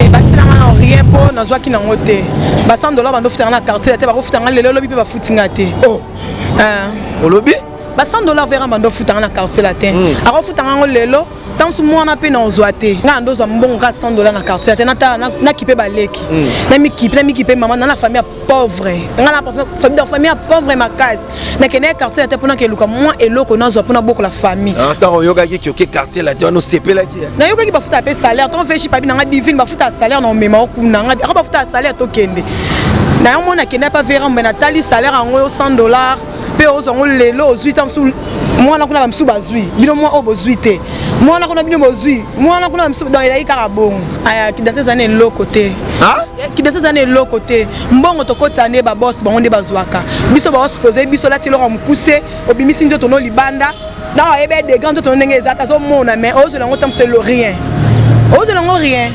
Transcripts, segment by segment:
ebakisela nga na rien mpo nazwaki nango te ba 100 dollar bando ofutanga na quartier te bakofuta nga lelo olobi mpe bafuti nga te oh. ah. olobi ba 100 dollar vera bando ofutanga na quartier latin hmm. akofuta ngango lelo ntango mosusu mwana mpe na ozwa te ngai na ndozwa mbongo kaka 100 dollar na quartier te natala nakipe baleki hmm. namikipe namikipe mama na na famille ya pauvre ngai na famille ya pauvre makasi nakendaki quartier latin mpona keluka mwa eloko nazwa mpona bokola famille ah, ntango oyokaki kioke quartier latin wana osepelaki nayokaki bafuta ya mpe salaire ntango feshi pabi nanga divine bafuta ya salaire na omema okuna nga ako bafuta ya salaire tokende na yango mona akendaki mpa vera mbe natali salaire yango 100 dollars mpe ozwa yango lelo ozwi ta mosusu mwana kuna bamisusu bazwi bino mwa oyo bozwi te mwana kuna bino bozwi mwana kuna bamisusu donc ezalaki kaka bongo aya kidasezana eloko te kidesa eza na eloko te mbongo tokotisa nde babos bango nde bazwaka biso babos poze biso olati eloko ya mokuse obimisi nzoto no libanda na oyebi edega nzoto no ndenge eza tazomona mais ozwela yango ntango selo rien ozwela yango rien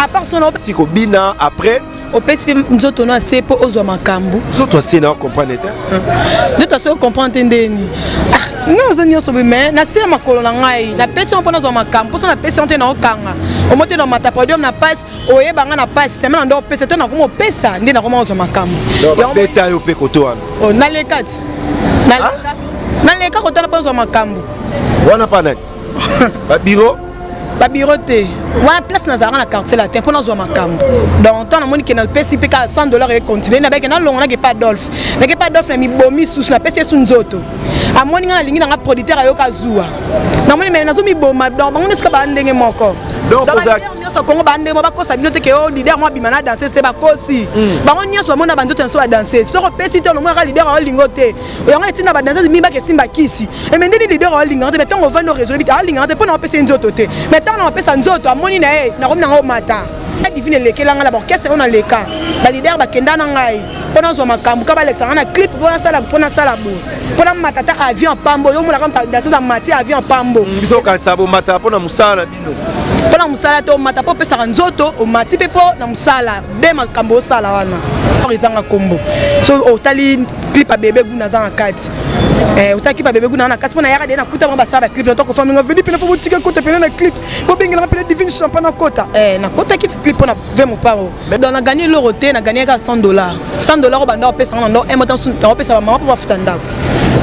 apart sona si kobina après opesi mpe nzoto no ase mpo ozwa makambo nzoto ase na comprendre te nzoto ase ocomprendre te ndeni ah, nga aza nyonso boye mai nase ya makolo na ngai napesi yango mpo nazwa makambo mposo napesi yango te naokanga omo te na mata podium na pasi oyeba nga na pasi teme na ndo opesa te nakoma opesa nde nakoma ozwa makambo beta yo mpe koto wana oh, naleka ti ah? naleka kotala mpo ozwa makambo wana mpa nani babiro babiro te wana place nazalaka na quartier latin mpo nazwa makambo donc temps namoni ke napesi mpe kaka 100 dollar econtinue nabeke nalongo nake pa adolphe nake pa adolphe na mibomi susu napesi yesu nzoto amoni ngai nalingi nanga producteur ayoka zuwa namoni me nazomiboma donc bango nyonso ka baa ndenge moko nyonso kongo bande mo bakosa bino te ke o oh, leader mo abima na danseuse te bakosi mm. bango nyonso bamona banzoto na biso badanseuse soki opesi te olomonaka leader aolinga o te yango etinda badanseuse mibaka esimba kisi eme eh, ndeni leader aolingaka te mai ntango ovandi oresolve te aolingaka te mpo na opesa ye nzoto te mai ntango na opesa nzoto amoni na ye nakomi nango omata divine elekela ngai na baorkestre oyo naleka balider bakenda na ngai mpo nazwa makambo ka balekisa ngai na clip mpo nasala mpo nasala bo mpo namatata avion pambo yo omonaka danseuse amati avion pambo mm, biso okanisa bomata mpo na mosala mpo na mosala te omata mpo opesaka nzoto omati mpe mpo na mosala be makambo osala wana ezanga nkombo so otali clip ya bebe guna aza na kati eh, otaki ba bebe guna na kasi pona yaka de na kuta ba basala ba clip na toko fami ngo vidi pena fobo tika kota pena na clip bo bengela ma pena divine champagne na kota eh na kota ki clip pona ve mopao Mais dans la gagner l'euro te na gagner ka 100 dollars. 100 dollars obanda opesa na ndo emata nsu na opesa ba mama po bafuta ndako.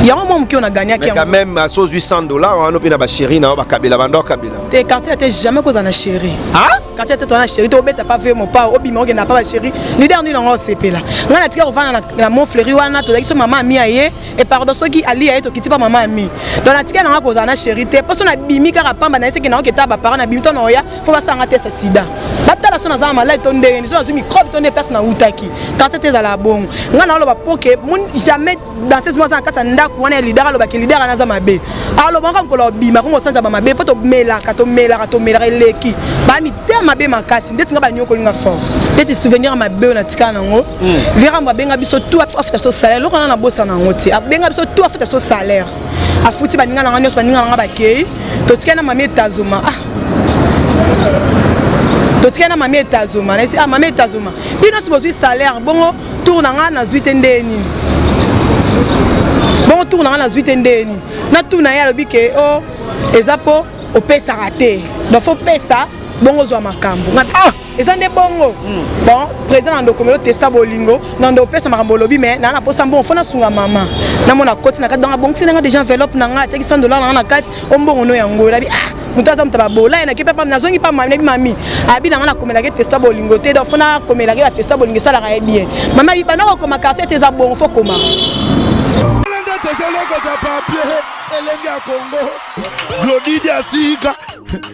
Yango mwa moke ona gagner ki. Quand même aso 800 dollars wana pe na ba chérie na ba kabela banda kabela. Te quartier ate jamais ko za na chérie. Ah? Quartier ate to na chérie to obeta pas vieux mon pa obima oke na pa ba chérie. Leader ni nango sepela. Nga na tika ovana na na mon fleury wana to zakiso mama mi aye et pardon soki ali aye to kiti pa mama mi. Donc na tika na nga ko za na chérie te. Poso na bimi kaka pamba na ese ke na oke ta ba parents na bimi to na oya faut basanga test ya sida batala so naza na maladi to ndenge nini so nazwi microbe to nde place nautaki kansa te ezala bongo ngai naoloba poke jamais danseuse moko aza na kati ya ndako wana ya lidar alobaki lidar wana aza mabe aloba nka mokolo obima kongo osanza bamabe mpo tomelaka tomelaka tomelaka eleki bamitema mabe makasi ndeti ngai banyokoli nga fort ndeti souvenir mabe oyo natikala nango hmm. vera mbo abenga biso tu afuta biso salaire eloko wana nabosana yango te abenga biso tu afuta biso salaire afuti baninga na nga nyonso baninga na nga bakei totikali na mami etazoma ah totikali na mami etazoma nayesi ah mami etazoma bino nyonso bozwi salaire bongo tour na nga nazwi te ndeye nini bongo tour na nga nazwi te ndeye nini na tour na ye alobi ke o oh, eza mpo opesaka te donc fo pesa bongo ozwa makambo ah! eza nde bongo hmm. bon président na ndoko melo testa bolingo na ndo opesa makambo olobi mais naa na posa mbongo fo nasunga mama namona koti na kati donc abongisi nanga déjà enveloppe na nga atiaki 100 dollar nanga na kati o mbongo no yango nabi ah moto aza moto babola ye nake mpe pam nazongi mpa mami nabi mami abi nanga nakomelaki testa bolingo te donc fo nakomelaki ya testa bolingo esalaka ye bien mama abi banda kokoma quartier te eza bongo fo koma tozolokota papie elenge ya kongo glodidi asika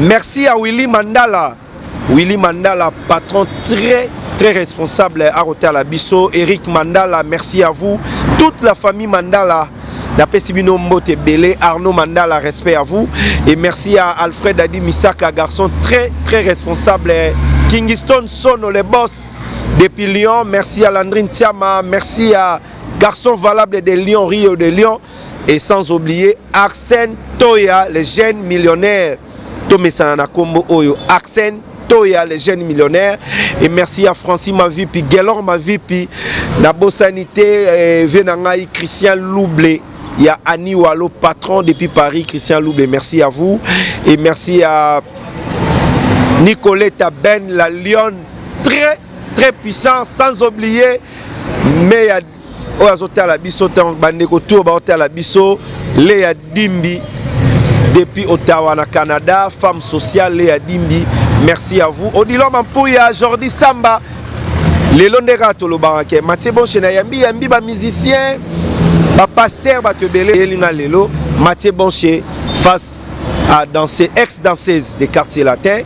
Merci à Willy Mandala. Willy Mandala, patron très très responsable à Rotala Bisso. Eric Mandala, merci à vous. Toute la famille Mandala. napesi bino mbote ebele arnaud mandala respect à vous et merci à alfred adi misaka garçon très très responsable kingston sono le boss depuis lyon merci à landrine tiama merci à garçon valable de lyon rio de lyon et sans oublier Arsène Toya le jeune millionnaire tomesana na kombo oyo Arsène Toya le jeune millionnaire et merci à Francis Mavipi Gelor Mavipi na bosani te eh, vie na ngai Christian Louble ya Annie Walo patron depuis Paris Christian Louble merci à vous et merci à Nicoletta Ben la lionne très très puissant sans oublier mais oyo azotala biso ntango bandeko tour baotala biso leya dimbi depuis ottawa na canada femme sociale leya dimbi merci à vous odilo mampuya jordi samba lelo nde kaka tolobaka ke matie bonche na yambi yambi bamusicien bapaster bato ebele eyelinga lelo matie bonche face à danser ex danseuse de quartier latin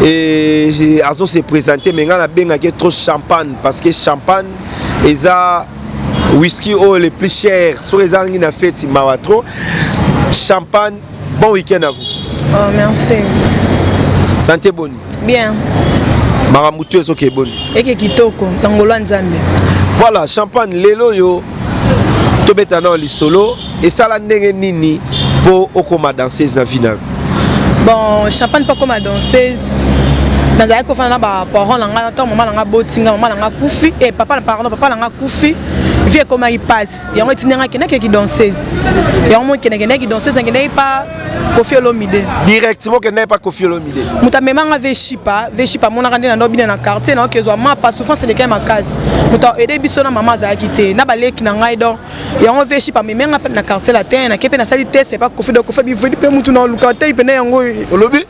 et azo se présenter mais nga na bengaki trop champagne parce que champagne eza whisky oyo le plus cher soki ezangi na feti mawa trop champagne bon week-end à vous oh, merci santé boni bien makambo tu ezoke boni eke kitoko ntango lwa nzambe voilà champagne lelo oyo tobeta nao lisolo esala ndenge nini mpo okoma danseuse na vie na yo bon champagne mpo akoma danseuse nazalaki kofanda na baparent na ngai ntango mama na ngai aboti ngai mama na ngai akufi e papa pardon papa na ngai akufi vie ekomaki mpasi yango etindi ngai akendaki kidanseuse yango mokendakendaki kidanseuse nakendaki pa kofi olomide directement okendaki pa kofi olomide moto amema ngai veshipa veshipa amonaka nde na ndo bina na quartier nayoki ezwa mapa souffrance elekaki makasi moto aide biso na mama azalaki te na baleki na ngai donc yango veshi pameme nga na quartier latin nake mpe nasali test epa kofi do kofi bivedi mpe mutu na oluka te mpena yango olobi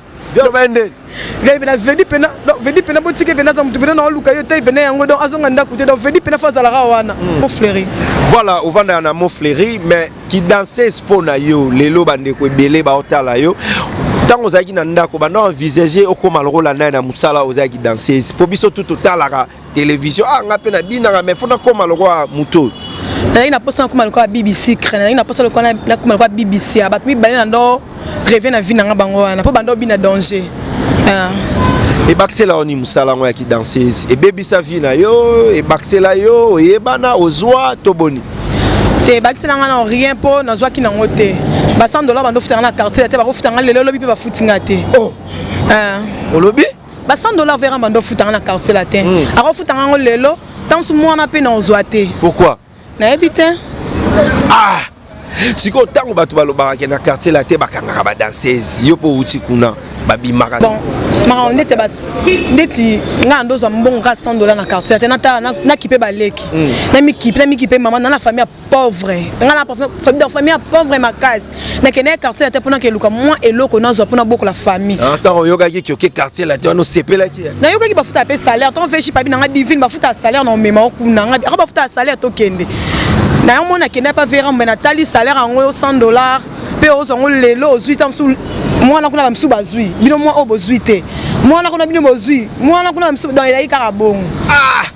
vedi pena vedi pena donc vedi pena botiki pena aza mutu pena na oluka yo te pena yango donc azonga ndako te donc vedi pena fo azalaka wana hmm. mo fleuri voilà ovandaka na mo fleuri mais ki danses mpo na yo lelo bandeko ebele baotala yo ntango ozalaki na ndako banda envisage okóma lokola naye na mosala ozalaki danseuse mpo biso tu totalaka television ah nga mpe nabinaka mais fo nakoma lokola moto oyo nazalaki na mposa nakoma lokola bibi sucre nazalaki na mposa lokola nakoma lokola bibi sia bato mibale na ndo reve na vie na nga bango wana mpo bando obina danger ah. ebakisela yo nini mosala yango ya kidansese ebebisa vie na yo ebakisela yo oyebana ozwa to boni te ebakisela nga na rien mpo nazwaki nango te ba 100 dollar bando ofutanga na quartier te bakofutanga lelo lobi mpe bafuti nga te oh. ah. olobi ba 100 dollars vera mbanda ofutanga na quartier latin mm. akofutanga yango lelo ntango mwana mpe naozwa te pourquoi nayebi te ah sikoyo ntango bato balobaka ke na quartier latin bakangaka badanseuse yo mpe outi kuna babimaka bon makambo ndeti basi ndeti ngai ndozwa mbongo kaka 100 dollars na quartier latin nakipe baleki hmm. namikipe namikipe mama na na famille pauvre nga na famille donc famille ya pauvre makasi nakendaki quartier latin mpo nakeluka mwa eloko nazwa mpo nabokola famille ah, ntango oyokaki kioke quartier latin wana osepelaki nayokaki bafuta mpe salaire ntango feshi pabi nanga divine bafuta ya salaire na omema okuna nga aka bafuta ya salaire tokende na yango mona akendaki mpa vera mbe natali salaire yango 100 dollars mpe ozwa yango lelo ozwi ntango mosusu mwana kuna bamisusu bazwi bino mwa oyo bozwi te mwana kuna bino bozwi mwana kuna bamisusu donc ezalaki kaka bongo ah!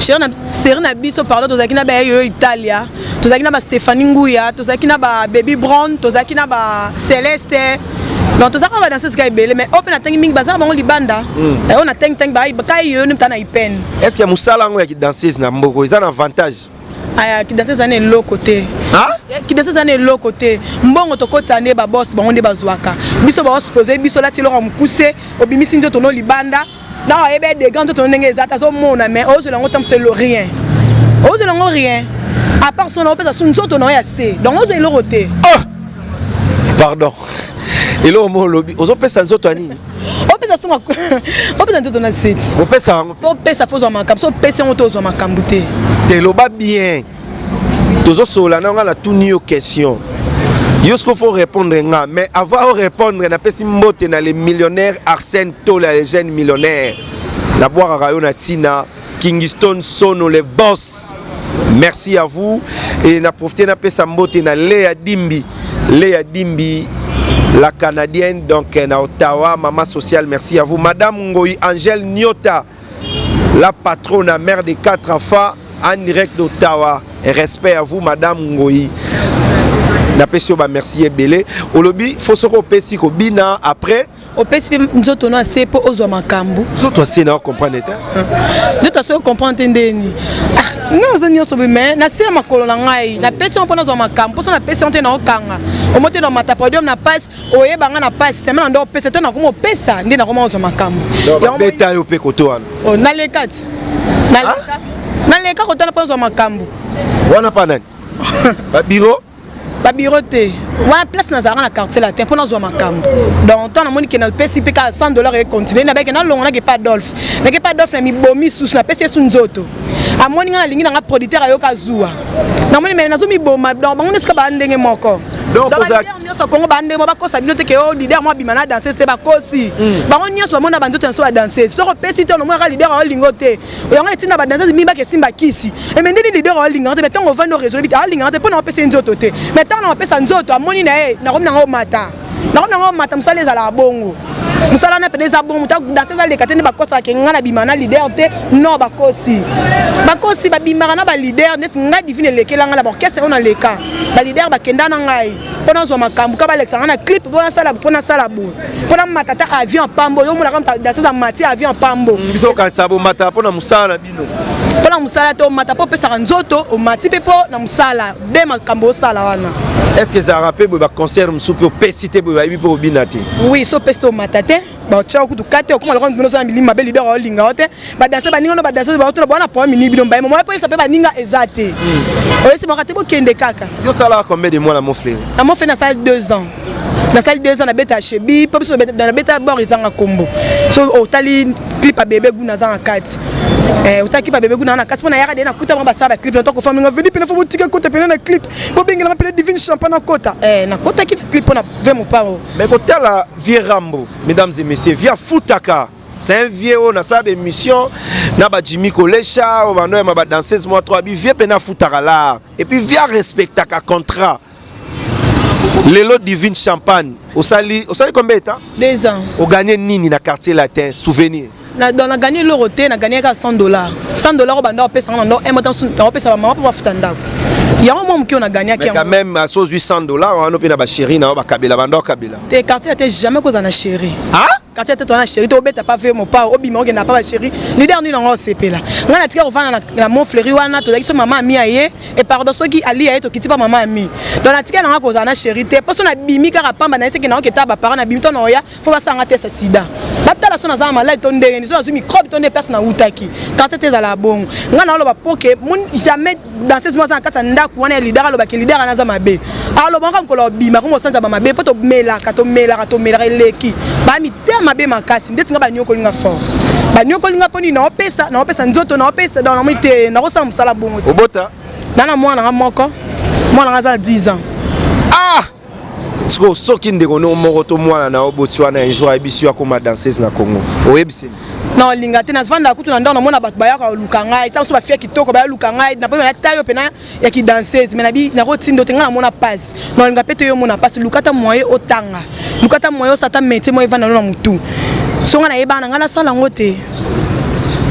Cher na série na biso pardon tozalaki na ba yo Italia, tozalaki na ba Stéphanie Nguya, tozalaki na ba Baby Brown, tozalaki na ba Celeste. Donc tozalaki na ba danseuses kaka ebele mais ope na tangi mingi bazala bango libanda. Mm. Oyo na tangi tangi ba kai yo nimta na ipene. Est-ce que musala yango ya ki danseuse na mboko eza na avantage? aya kidasi eza na eloko te kidasi eza na eloko te mbongo tokotisa nde babos bango nde bazwaka biso baospoze biso olati eloko ya mokuse obimisi nzoto no libanda na oyebi ya degan nzoto no ndenge eza te azomona mais ozwela yango ntango selo rien ozwela yango rien apart so na opesa so nzoto na yo ya se donc ozwa eloko te ah! pardon eloko mo olobi ozopesa nzoto ya nini opesa songa opesa nzoto na seti opesa yango opesa fo ozwa makambo so opesi yango te ozwa makambo te te eloba bien tozo solola na nga na tuni yo question yo siko faut répondre nga mais avant o répondre napesi mbote na le millionnaire Arsène Tola le jeune millionnaire na bwakaka yo na tina Kingston Sono le boss merci à vous et na profiter na pesa mbote na Lea Dimbi Lea Dimbi la canadienne donc na Ottawa mama sociale merci à vous madame Ngoyi Angèle Nyota La patrona mère des quatre enfants en direct d'Ottawa. Respect à vous, Madame Ngoyi. napesi yo bamerci ebele olobi fo soki opesi kobina après opesi mpe nzoto na se mpo ozwa makambo nzoto ase na ocomprendre te nzoto ase ocomprendre te ndeni ah, nga aza nyonso boye mai na se ya makolo na ngai napesi yango mpo nazwa makambo mposo napesi yango te na okanga omo te na mata podium na pasi oyeba nga na pasi teme na nde opesa te nakoma opesa nde nakoma ozwa makambo beta yo mpe koto wana oh, naleka ti naleka ah? naleka kotala mpo ozwa makambo wana mpa nani babiro babiro te wana place nazalaka na quartier latin mpo nazwa makambo donc ntango namoni ke napesi mpe kaka 100 dollar econtinue nabeke nalongo nake pa adolphe nake pa adolphe na mibomi susu napesi esu nzoto amoni ngai nalingi na ngai producteur ayoka zuwa namoni me nazomiboma donc bango nyonso ka baa ndenge moko nyonso kongo bande mo bakosa bino te ke o lider mo abima na danseuse te bakosi hmm. bango nyonso bamona banzoto na biso ya danseuse soki opesi te onomonaka lider aolingo te yango etinda badanseuse mibaka esimba kisi eme ndini lider aolingaka te me ntango ovandi oresole bite aolingaka te mpo na opesi nzoto te me ntango na opesa nzoto amoni na ye nakomi nango omata nako na yango mata mosala ezalaka bongo mosala na pede eza bongo moto danse ezaleka te nde bakosaka ke ngai nabima na lider te non bakosi bakosi babimaka na balider neti ngai divine elekela ngai na baorkestre oyo naleka balider bakenda na ngai mpo nazwa makambo ka balekisa ngai na clip mpo nasala mpo nasala boye mpo namata ata avion pambo yo omonaka danse eza mati avion pambo biso okanisa bomata mpo na mosala mpo na mosala te omata mpo opesaka nzoto omati mpe mpo na mosala be makambo osala wana est-ce que ezalaka mpe boye baconcert mosusu mpe opesi te boye bayebi mpe obina te oui so opesi te omata te baotia kutu kate okoma lokola bino oza na milimo mabe lider olinga yo te badanse baninga no badanse baotuna bawana problème nini bino mbaye momoya mpo yesa mpe baninga eza te hmm. oyesi maka te bokende kaka yo osalaka combien de mois na moflere na moflere nasala 2 ans nasali deux ans nabeta ya chebi mpo biso nabeta ya bor ezanga nkombo so otali oh, clip ya bebe guna aza na kati eh, otali clip ya bebe guna na kati mpo nayaka de nakuta bango basala baclip na toko faminga vedi mpena fo botika ekota pena na clip bobengelama mpena divine champa nakota eh, nakotaki na clip mpo na ve mopango mais kotala vieux rambo mesdames et messieurs via futaka c'est un vieux oyo nasala baémission na bajimi kolesha oyo banoyama badanseuse mwa 3 bi vieux mpena afutaka lar et puis via respectaka contrat Lelo Divine Champagne, osali osali combien de temps? Deux ans. O gagné nini na quartier latin? Souvenir. Na donc na gagné loro te, na gagné ka 100 dollars. 100 dollars au banda opesa na ndako, un mois tansu na opesa ba maman pour bafuta ndako. Yango mwa moke na gagné ki. Mais quand même à 100 800 dollars, on a pe na ba chérie na ba kabela banda kabela. Te quartier latin jamais kozana chérie. Hein? katia tete wana chéri to obeta pa vie mopao obima okenda pa ba chéri leader nini yango osepela ngai natika kovanda na mont fleuri wana tozalaki so mama ami ya ye e pardon soki ali ya ye tokiti pa mama ami donc natika na ngai kozala na chéri te mpo so nabimi kaka pamba na ye seke naoketa baparent nabimi to na oya fo basala ngai tesa sida batala so naza na maladi to ndenge nini so nazwi microbe to nde place nawutaki kasi te ezala bongo ngai naoloba mpo ke jamais danseuse moko aza na kati ya ndako wana ya lidar alobaki lidar wana aza mabe alobaka mokolo abima ko mosanza ba mabe mpo tomelaka tomelaka tomelaka eleki bamitema mabe makasi ndeti nga baniokoli nga fort baniokoli nga mpo nini naopesa naopesa nzoto naopesa donc namoni te nakosala mosala bongo te obota nana mwana nga moko mwana nga aza na 10 ans ah sikoyo soki ndeko no moko to mwana na yo boti wana un jour ayebisi yo akoma danseuse na congo oyebisi na olinga te navanda kutu na ndako namona bato bayaka koluka ngai ntango so bafia kitoko baya luka ngai naponi nalata yo mpena ya kidanseuse mai nabi nakotindo te ngai namona mpasi na olinga mpe te yo omona mpasi luka ata moye otanga luka ata moye osata metie moye evanda no na motu so ngai nayebana ngai nasala yango te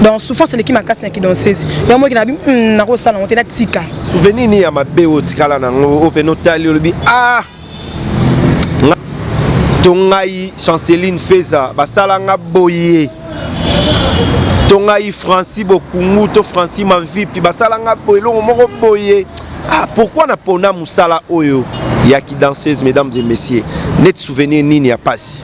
donc souffrance eleki makasi na kidonsese yango moki nabi hmm, nakosala yango te natika souvenir nini ya mabe oyo otikala nango oyo mpe notali olobi ah to ngai chanceline feza basala nga boye to ngai franci bokungu to franci mavipi basala nga boye elongo moko boye ah, pourkui napona mosala oyo ya kidanseuse mesdames et messieurs neti souvenir nini ya mpasi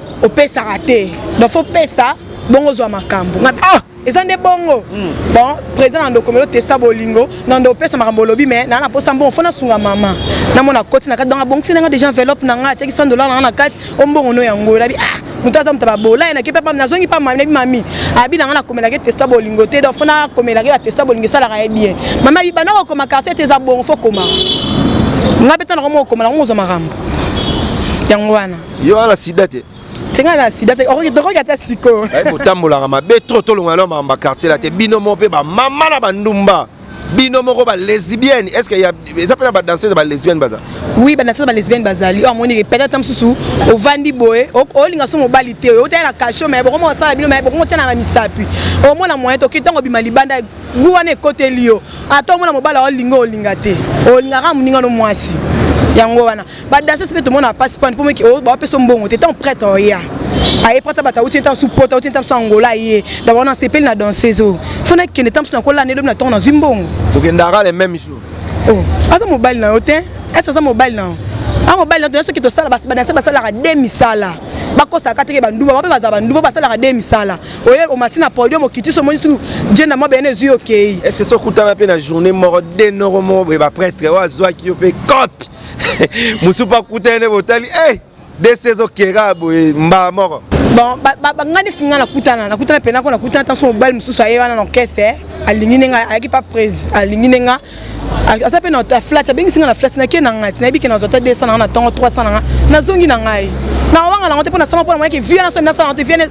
opesaka te ba faut pesa bongo zwa makambo ah eza nde bongo hmm. bon président na ndokomelo testa bolingo na ndo opesa makambo olobi me naa na mposa mbongo fo nasunga mama namona koti na kati donc abongisi nanga déjà enveloppe na nga atiaki 100 dollar nanga na kati o mbongo no yango elabi ah moto aza moto babola ye nake papa nazongi pa mami nabi mami abi nanga nakomelaki testa bolingo te donc fo nakomelaki batesta bolingo esalaka ye bien mami abi banda kokoma quartier te eza bongo fo komaka nga mpe ntango moko okoma nango ozwa makambo yango wana yo wana sida te tenga na sida te okoki tokoki ata siko kotambolaka mabe trop tolongola na makambo quartier la te bino moko mpe bamama na bandumba bino moko ba lesbienne est ce que eza mpe na ba danseuse ba lesbienne baza oui ba danseuse ba lesbienne bazali oyo amoni peut être mosusu ovandi boye olinga so mobali te oyo otala na kasho me bokomo osala bino me bokomo tia na misapi omona moyen toki ntango obima libanda gu wana ekoteli yo ata omona mobala olinga olinga te olingaka moninga no mwasi yango wana badasese mpe tomona pasi pani mpo bapesa mbongo te ntango prete oya aye prete bato auti ntango su pota auti ntango su angola ye na bawana asepeli na danseuse oyo fo nakende ntango su nakola nde lobi na ntongo nazwi mbongo okendaka le même jour oh, aza mobali na yo te ese aza mobali na yo a mobali na yo soki tosala badanse basalaka de misala bakosaka teke banduba bape baza banduba basalaka de misala oye omati na podium okiti so omoni sunu jenda mwa bene ezwi okei ese so okutana mpe na journée moko de noko moko boye bapretre oyo azwaki yo mpe cope mosusu mpe akutani nde botali e eh, de se ezokera boye mbala moko bon banga nde singa nakutana nakutana mpenako nakutana ntanso mobali mosusu aye wana na orchestre eh. alingi nde nga ayaki pa prese alingi nde nga aza mpe na flat abengisi ngai na flat nake na ngai ti nayebi ke nazwa ata 200 nanga na ntongo 300 nanga nazongi na ngai nawanga nango te mpo nasala mpo namonaki vie wana soki nasala yango te vie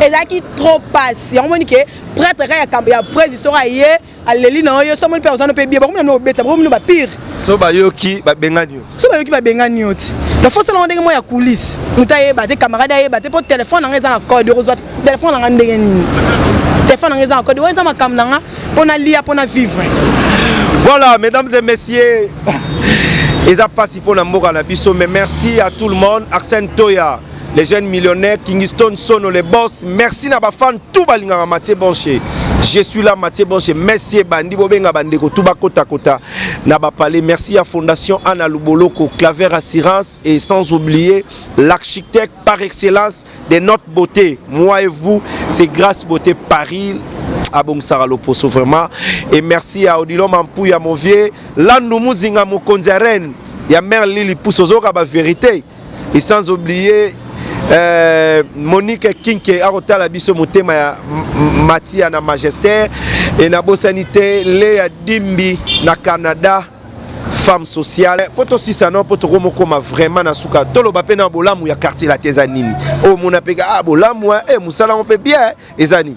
ezalaki trop pasi yango moni ke prêtre ka ya presi soko aye aleli na yo yo so moni mpe ozwani mpe bie bakomi na no obeta bakomi no bapire so bayoki babengani yo so bayoki babengani yo ti donc fo osalanga ndenge moko ya coulisse moto ayeba te camarade ayeba te mpo telefone nanga eza na code okozwa telefone nanga ndenge nini telefone nanga eza na code oyo eza makambo na nga mpo nalia mpo na vivre voilà mesdames et messieurs eza mpasi mpo na mboka na biso mais merci à tout le monde arsène toya les jeunes millionnaires Kingston Sono les boss merci na ba fans tout balingaka Mathieu Bonche je suis là Mathieu Bonche merci ebandi bobenga bandeko tout bakota kota na ba palais merci à Fondation Anna Luboloko Claver Assurance et sans oublier l'architecte par excellence de notre beauté moi et vous c'est grâce beauté Paris abongisaka loposo vraiment et merci à Odilon Mampuya Movie Landu Muzinga Mokonzi ya Rennes ya mère Lili Pousse ozoka ba vérité et sans oublier euh, Monique Kinke akotala biso motema ya Matia na Magester et na bosani te Lea Dimbi na Canada femme sociale mpo tosisa no mpo tokomokoma vraiment na suka toloba mpe na bolamu ya quartier latin eza nini oyo oh, mona mpe ah bolamu e eh, mosala yango mpe bien eza nini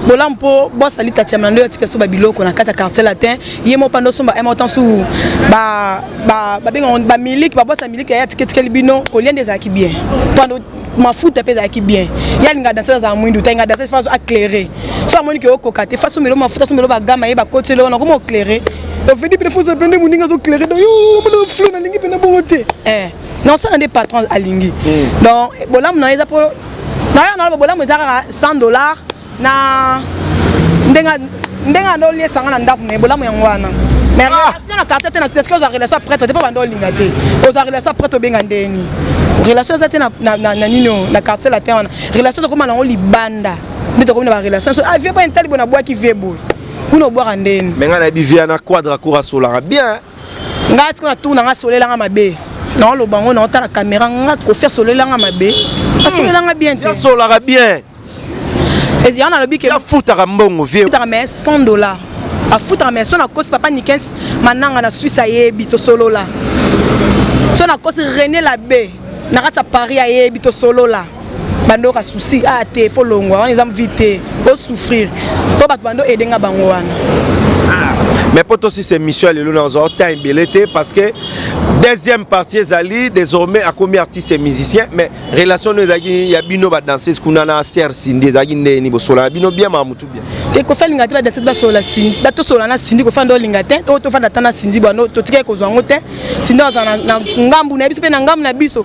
bolamu mpo bos alita tiamela nde atika so babiloko na kati ya quartier latin ye moko panda osomba un motan su babenga bamiliki babos ya miliki yaye atiketikeli bino kolia nde ezalaki bien panda mafuta mpe ezalaki bien ye alinga danse azala mwindu talinga danse faso aclaire so amoni ke okoka te faso omelo mafuta somelo bagama ye bakoti eloko na koma oclaire ofedi mpe faso mpe nde moninga azoclaire donc yo omona flo nalingi mpe na bongo te eh. naosala nde patron alingi hmm. donc bolamu na ye eza mpo na yo naloba bolamu eza kaka 100 dollars na ndenge ndenge ando oliesa nga na ndako me bolamu yango wana mais ah! relation na quartier te na sudest ozwa relation prêtre te mpo banda olinga te ozwa relation prêtre obenga ndeni relation eza te na nini oyo na quartier latin wana relation tokoma nango libanda nde tokomi na barelation so ah vie boye ntali boye nabwaki vie boye kuna obwaka ndeni me ngai nayebi vie na quadra kurasolaka bien ngai siko natuna ngai solela ngai mabe naoloba yango naotala kamera ngai kofi asolela ngai mabe asolela ngai bien te asolaka bien ezala nalobi ke afutaka mbongo vie afutaka mais 100 dollars afutaka mais so nakosi papa nikes mananga na swisse ayebi tosolola so nakosi rené labe na kati ya paris ayebi tosolola bando ka souci ah te fo longwa wana eza vie te o souffrir mpo bato bando edenga bango wana ah. mais mpo tosisa émission ya lelo nazwa temps ebele te parce que deuxième partie ezali désormais akomi artiste et musicien mais relation no ezalaki ya bino badanseuse kuna na ser sindi ezalaki ndenge nini bosolana bino bien ma mutu bien te kofi alinga te badanseuse basolola sindi batosola na sindi kofi ande olinga te oyo tofanda ata na sindi bwano totikaki kozwa yango te sindi azala na ngambu na ye biso mpe na ngambu na biso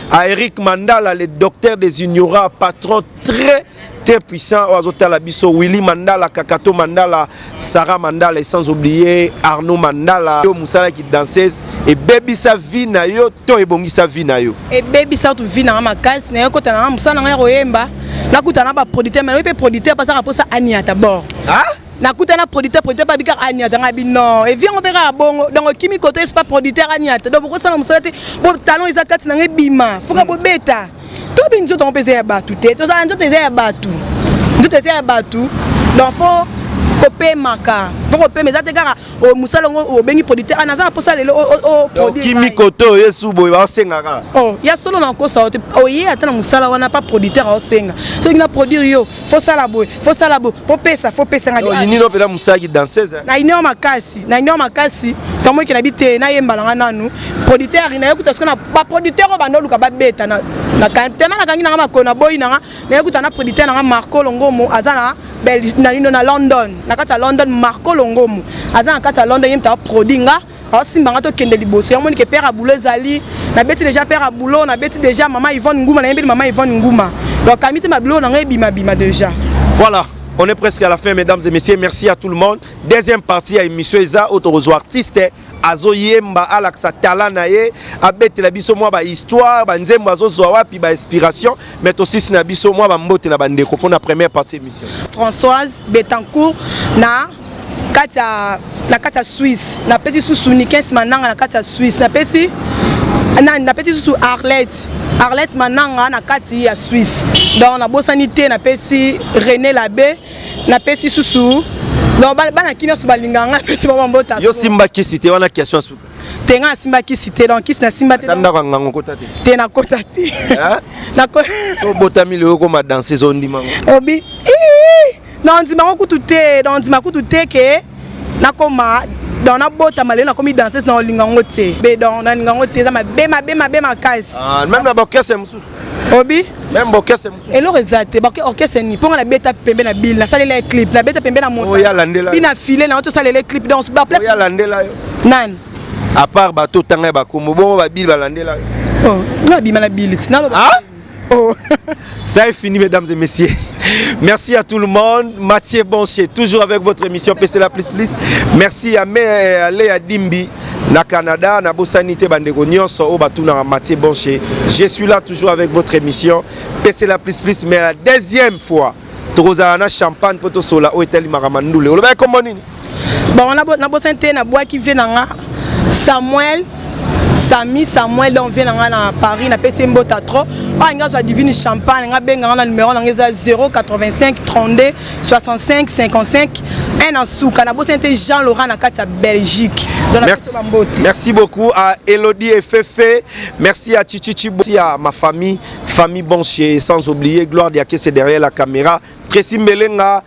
à Eric Mandala, le docteur des ignorants, patron très très puissant oyo azotala biso willy mandala kakato mandala sarah mandala et sans oublier arnaud mandala yo mosalaki danseuse ebebisa vie na yo to ebongisa vie na yo ebebisa tu vie nanga makasi naye kota nanga mosala nanga ya koyemba nakuta na baproducteur mai nayebi mpe producteur mpasaka mposa aniata bord nakuta na producteur producteur babi kaka aniata ngai bi non evi yango mpe kaka bongo donc okimi koto esi pa producteur aniata donc bokosala mosala te bo talon eza kati na ngai bima foka mm. bobeta tobi nzoto yango mpe eza ya bato te tozala nzoto eza ya bato nzoto eza ya bato donc fo kopemaka mpo kopema eza te kaka oh, mosala yango oh, obengi producteur ana ah, aza na mposa lelo okimi oh, kote oye su boye baosengaka ya solo na kosa oye ata na mosala wana pa producteur aosenga soki na produire yo faut sala boye faut sala boye faut pesa faut pesa nga yo nino pela musaki danseuse hein. na ino makasi na ino makasi tomo kila bite na yemba nga nanu producteur na yokuta sona ba producteur ba no luka ba beta na na kantema na kangi na nga makona boy na nga na yokuta na producteur na nga Marco Longomo azana Belgique na ino na London na kata London Marco Longomo azana kata London yemta produit nga aosimba nga tokende liboso yango monike père ya boulot ezali nabeti déjà père ya boulot nabeti déjà mama yvonne nguma nayembeli mama yvonne nguma donc kamiti mabilo na ngai ebimabima déjà voilà on est presque à la fin mesdames et messieurs merci à tout le monde deuxième partie ya émission eza oyo tokozwa artiste azoyemba alakisa tala na ye abetela biso mwa bahistoire banzembo azozwa wapi bainspiration mai tosisi na biso mwa bambote na bandeko mpo na première partie émission françoise betancourt na kati ya na kati ya Suisse napesi susu Nikens Mananga na kati ya Suisse napesi nani napesi susu Arlette Arlette Mananga na kati ya Suisse donc nabosani te napesi René Labe napesi susu donc bana kini nyonso balingaka ngai napesi bango mbota yo simba kisi te wana question suka te ngai nasimba kisi te donc kisi nasimba te ndako ya ngango kota te te nakota te obotami lelo okoma danse ezondima obi na ondima ngo kutu te na ondima kutu te ke nakoma donc nabotama lelo nakomi danseuse na olinga yango te be donc nalinga yango te eza mabe mabe mabe makasi ah, meme na baorchestre mosusu obi meme baorchestre mosusu eloko eza te baorchestre nini mpo nga nabeta pembe na bile nasalela ye clip nabeta pembe na motabi na file na yo tosalela ye clip donc baplace alandela yo nani apart bato otanga ya bakombo bongo babile balandela yo oh, nabima na bile tinaloba ah? Oh. Ça est fini, mesdames et messieurs. Merci à tout le monde. Mathieu Boncher, toujours avec votre émission PC la plus plus. Merci à Mère Léa Dimbi. na Canada, na Bossani te bandeko nyonso au batu na Mathieu Boncher. Je suis là toujours avec votre émission. PC la plus plus mais la deuxième fois. Tokozala na champagne poto sola o etali makamandule. Olobaki kombo nini? bango nabosani te nabwaki vie na nga samuel sami samuel donc vie na nga na paris napesi mbota trop oyo alingi azwa divine champagne nga benga nga na numero na nga eza 085 32 65 55 un na suka nabosani te jean laurent na kati ya belgique Merci, merci beaucoup à Elodie et Fefe. Merci à Chichichi. Merci à ma famille, famille Bonchier. Sans oublier Gloire Diakese derrière la caméra. Tracy Mbelenga.